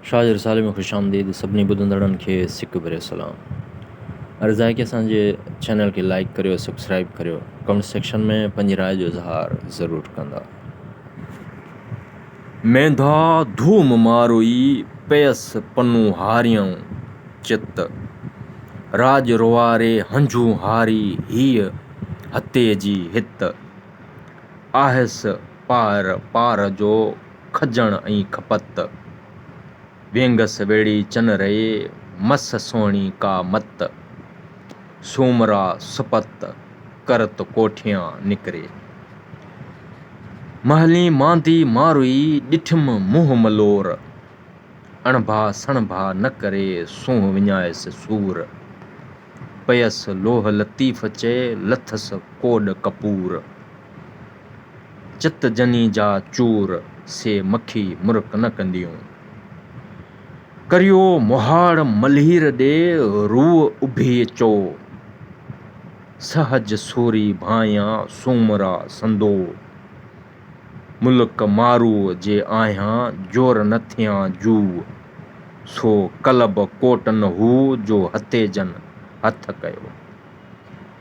شاهه جي رسالي ۾ خوش آمديد سڀني ٻڌندڙن کي سڪ ڀريو سلام عرض آهي ڪي اسان جي چينل کي لائيڪ ڪريو سبسڪرائيب ڪريو ڪمينٽ سيڪشن ۾ پنهنجي راء جو اظهار ضرور ڪندا. مينڌا ڌوم ماروئي پيس پنو هاريئون چت راڄ روئاري هنجون هاري هيء هتي جي هت آهيس. پار پار جو کجڻ ۽ کپت. وينگس ويڙهي چن رئي، مس سهڻي ڪا مت. سومرا سپت، ڪرت ڪوٺيان نڪري. مهلين ماندي ماروئي، ڏٺم منهن ملور. اڻڀا سڻڀا نه ڪري، سونهن وڃائيس سور. پيس لوهه لطيف چئي، لٿس ڪوڏ ڪپور. چت جني جا چور، سي مکي مرڪ نه ڪنديون. ڪريو مهاڙ ملهير ڏي، روء اڀي چو. سهج سوري ڀانئيان سومرا سندو، ملڪ ماروء جي آهيان جور نه ٿيان جو. سو قلب ڪوٽن هو، جو هتيجن هٿ ڪيو.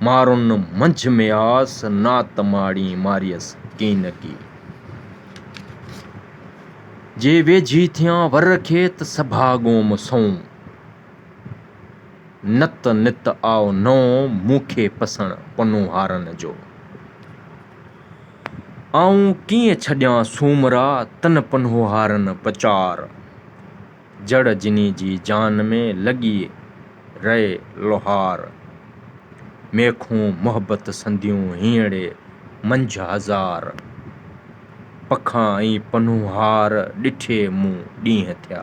مارن منجھ مياس، نات ماڙي ماريس ڪينڪي. جي ويجھي ٿيان ور کيت، سڀا ڳوم سنئون. نت نت آئو نئون، مون کي پسڻ پنوهارن جو. آئون ڪيئن ڇڏيان سومرا، تن پنوهارن پچار. جڙ جني جي جان ۾ لڳي رئي لوهار. ميخون محبت سنديون هينئڙي منجهه هزار. پکان ۽ پنهونهار ڏٺي مون ڏينهن ٿيا.